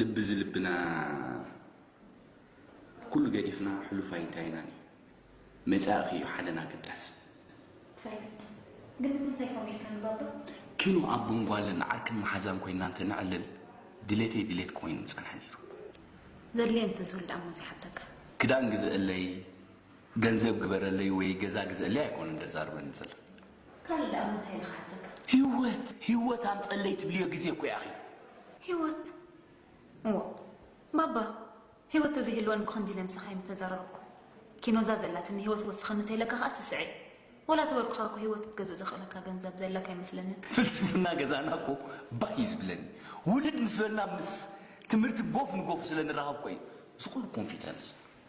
ልቢ ዝልብና ኩሉ ገዲፍና ሕሉፍ ኣይንታይናን እዩ መጻእኺ እዩ ሓደን ኣገዳሲ ፈልጥ ግን እንታይ ኮም ኢልካ ንባባ ኪኖ ኣብ ጎንጓለን ዓርክን መሓዛን ኮይና እንተ ንዕልል ድሌተይ ድሌት ኮይኑ ምጸንሐ ነይሩ ዘድልየ እንተዝህሉ ደኣ እሞ ዘይሓተካ ክዳን ግዘእለይ ገንዘብ ግበረለይ ወይ ገዛ ግዘእለይ ኣይኮነን ተዛርበኒ ዘለኺ። ካልእ ደኣ ምንታይ ኢለ ክሓተካ? ሂወት ሂወት ኣምጸለይ ትብልዮ ግዜ እኮ ያኺ። ሂወት እዎ ባባ ሂወት ተዘይህልወኒ ብኸምዚ ኢለ ምሳኻይ ምተዛረብኩ። ኪኖ እዛ ዘላትኒ ሂወት ወስኸኒ እንተኢለካ ከኣ ስስዔ። ወላ ተበርኩኻ እኮ ሂወት ክትገዝእ ዘኽእለካ ገንዘብ ዘለካ ኣይመስለንን። ፍልስፍና ገዛና እኮ ባህ እዩ ዝብለኒ። ውልድ ምስ በልና ምስ ትምህርቲ ጎፍ ንጎፍ ስለ ንራኸብ እኮ እዩ እዚ ኩሉ ኮንፊደንስ።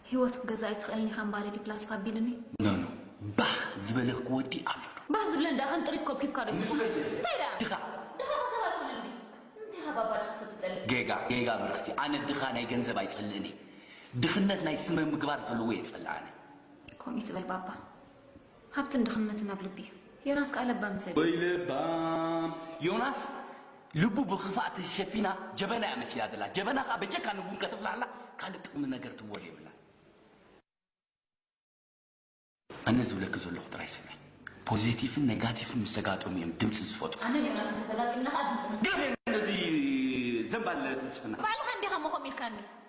ሂወት ክትገዝእ ኣይትኽእልን ኢኻ እምበኣር ኢዲ ፕላስቲክ ኣቢሉኒ። ኖኖ ባህ ዝበለክ ወዲ ኣሎ ዶ? ባህ ዝብለን ደኣ ከም ጥሪት ኮብኪብካ ዶ ይስማዕ እንታይ ደኣ ድኻ ድኻ ከ ሰብ ኣይኮነን ድዩ ንምንታይ ኢኻ ባባ ድኻ ሰብ ትጸልእ። ጌጋ ጌጋ ብርኽቲ ኣነ ድኻ ናይ ገንዘብ ኣይጸልእን እየ ድኽነት ናይ ስመ ምግባር ዘለዎ እየ ዝጸልእ ኣነ። ከምኡ ትበል ባባ ሃብትን ድኽነትን ኣብ ልቢ እዩ። ዮናስ ከኣ ለባም ሰብ እዩ። ወይ ለባም ዮናስ ልቡ ብክፋእ ተሸፊና ጀበና እያ መሲላ ዘላ ጀበና ከኣ በጀካ ንቡን ከተፍልሓላ ካልእ ጥቅሚ ነገር ትወል የብላን። ኣነ ዝብለኪ ዘለኹ ጥራይ ስምዒ ፖዘቲፍን ነጋቲፍን ምስ ተጋጠሙ እዮም ድምጺ ዝፈጥሩ። ኣነን ዮናስን ተተጋጢምና ከኣ ድምጺ ንፈጥር። ገርየን ነዚ ዘንባል ፍልስፍና። ባዕልኻ እንዲኻ እሞ ከምኡ ኢልካኒ።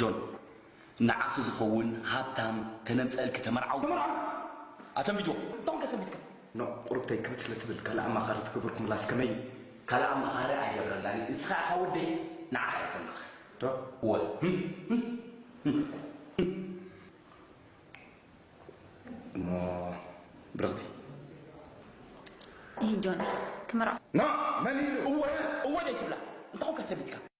ጆን ንዓኺ ዝኸውን ሃብታም ከነምጸእልኪ ተመርዓው ተመርዓው ኣሰንቢትዎ እቶም ከሰንቢትካ ን ቁርብተይ ክብድ ስለ ትብል ካልእ ኣማኻሪ ትገብርኩምላስ ከመይ እዩ? ካልእ ኣማኻሪ ኣይገብረላን እየ ንስኻ ኢኻ ወደይ ንዓኻ እየ ዘማኽር ዶ እወ እሞ ብርኽቲ እሂ ጆን ክምርዓው ን መን ኢሉ እወ እወ ደይትብላ እንተኾንካ ሰንቢትካ